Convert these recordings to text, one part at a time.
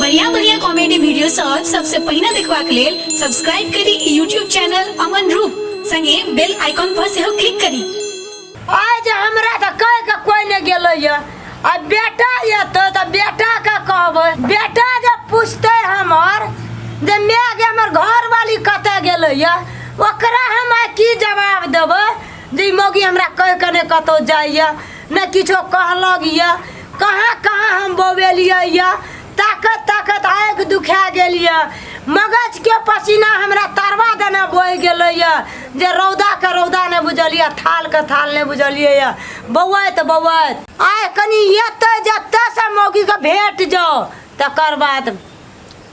बढ़िया बढ़िया comedy video सब सबसे पहिने देखबाक लेल सब्सक्राइब करी ई यूट्यूब चैनल अमन रूप संगे बेल आइकॉन पर सेहो क्लिक करी आइ जे हमरा तऽ कहि के कोइ नहि गेलैया आ बेटा एतै तऽ बेटा के कहबै बेटा जे पूछतै हमर जे माय गे हमर घरवाली कतऽ गेलैया ओकरा हम आइ की जवाब देबै जे ई मौगी हमरा कहि के नहि कतौ जाइया ने किछो कहलक यऽ कहाँ कहाँ हम बौवेलियै यऽ ताकत ताकत आँखि दुखा गेल यऽ मगजके पसीना हमरा तरवा देने बहि गेलै यऽ जे रौदाके रौदा नहि बुझलियै थालके थाल नहि बुझलियै यऽ बौआइत बौआइत आइ कनि एतै जतयसँ मौगीके भेट जाउ तकर बाद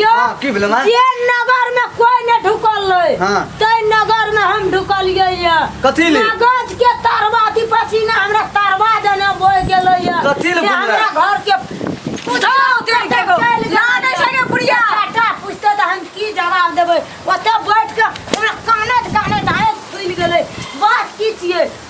यो हाँ, की भेलै माँ? जे नगर में कोई न ढुकल रहे हाँ। ते नगर में हम ढुकलिए ये कथी ले? कागज के तरवा दी पसीना हमरा तरवा देने बोल गेले ये कथी ले जे बुझला? हमरा घर के पूछो तेरी के गो लाने छै के बुढ़िया बेटा पूछते त हम की जवाब देबे ओते बैठ के हमरा कानत कानत आए फूल गेले बात की छिए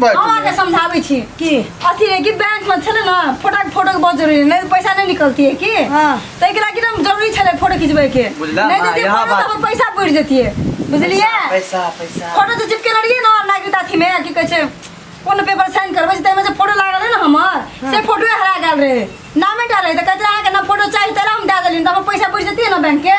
बैठ अहाँ के ले। समझाबै छी की अथी है कि बैंक में छले ना फोटो के फोटो के बहुत जरूरी है, नहीं तो पैसा नहीं निकलती है की हाँ। तो एकरा की नाम जरूरी छले फोटो खिंचबे के बुझला, नहीं हाँ, देती यहाँ फोटो बात- तब पैसा पड़ जती है बुझलिए पैसा पैसा फोटो जे चिपके रहिए ना नागरिकता थी में की कहै छै कोनो पेपर साइन करबै ताहिमे जे फोटो लागल है ना हमर से फोटोए हरा गेल रहे नामे डाल रहे तऽ कहते अहाँके ना फोटो चाही तैला हम दए देलियै तऽ हमर पैसा बुझि जतियै ने बैंकके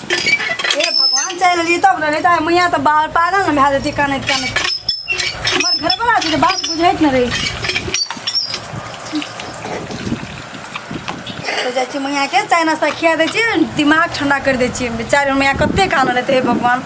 ए भगवान चलि एलियै तब ने नहि तऽ मैया तऽ बाहर पागल ने भए जेतै कानैत कानैत हमर घरवला छै जे बात बुझैत ने रहै छै तऽ जाइ छियै मैयाके चाय नाश्ता खिया दै छियै दिमाग ठंडा करि दै छियै बेचारी हमर मैया कते कानल हेतै हे भगवान